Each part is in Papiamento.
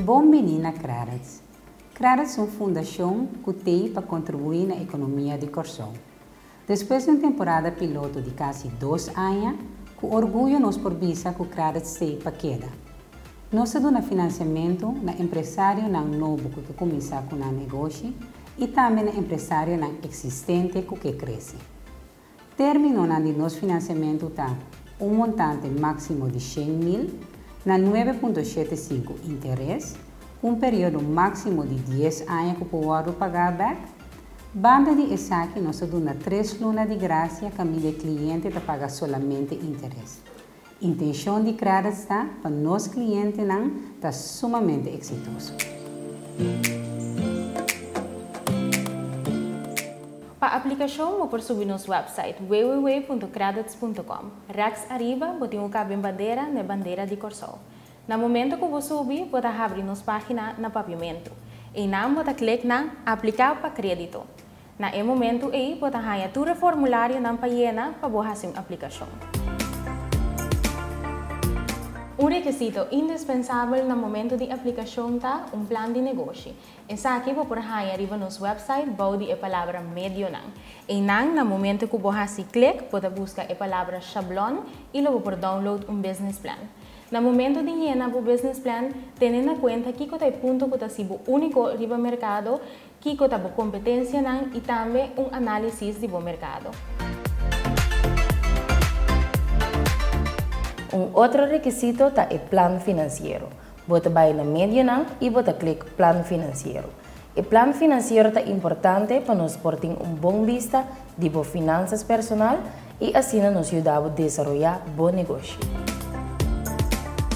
Bon bini na Credits! Credits un fundacion cu tei pa contribui na economia di Corsou. Despues di un temporada piloto di casi dos aña, cu orguyo nos por bisa cu Credits tei pa keda. Nos ta duna financiamento na empresarionan nobo cu ta cuminsa cu nan negoshi y tambe na empresarionan existente cu ke crece. Términonan di nos finansiamentu ta, un montante máksimo di shen mil, na nuebe punto shete sinku interes, ku un periodo máksimo di dies aña ku por wòrdu pagá bèk. Banda di esaki nos ta duna tres luna di grasia kaminda e kliente ta paga solamente interes. Intencion di Credits ta pa nos clientenan ta sumamente exitoso. Pa aplicacion bo por subi nos website www.credits.com. Rechts ariba bo tin un caben bandera n'e bandera di Corsou. Na momento cu bo subi bo ta habri nos pagina na Papiamento. Einan bo ta click na Aplica pa credito. Na e momentu ei bo ta haña tur e formularionan pa yena pa bo hasi un aplikashon. Un rekisito indispensabel na momentu di aplikashon ta un plan di negoshi. Esaki bo por haña riba nos wèpsait bou di e palabra Medionan. Einan, na momentu ku bo hasi klik, bo ta buska e palabra Shablon i lo bo por download un business plan. Na momentu di yena bo business plan, tene na kuenta kiko ta e punto ku ta si bo úniko riba merkado Kiko ta bo kompetensianan i tambe un análisis di bo merkado. Un otro rekisito ta e plan finansiero. Bo ta bai na medionan i bo ta klik Plan Finansiero. E plan finansiero ta importante pa nos por tin un bon bista di bo finansas personal i asina nos yuda bo desaroyá bo negoshi.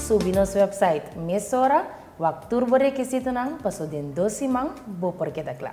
Subi nos wèpsait mesora Wak tur bo rekisitonan, paso den dos siman bo por keda kla.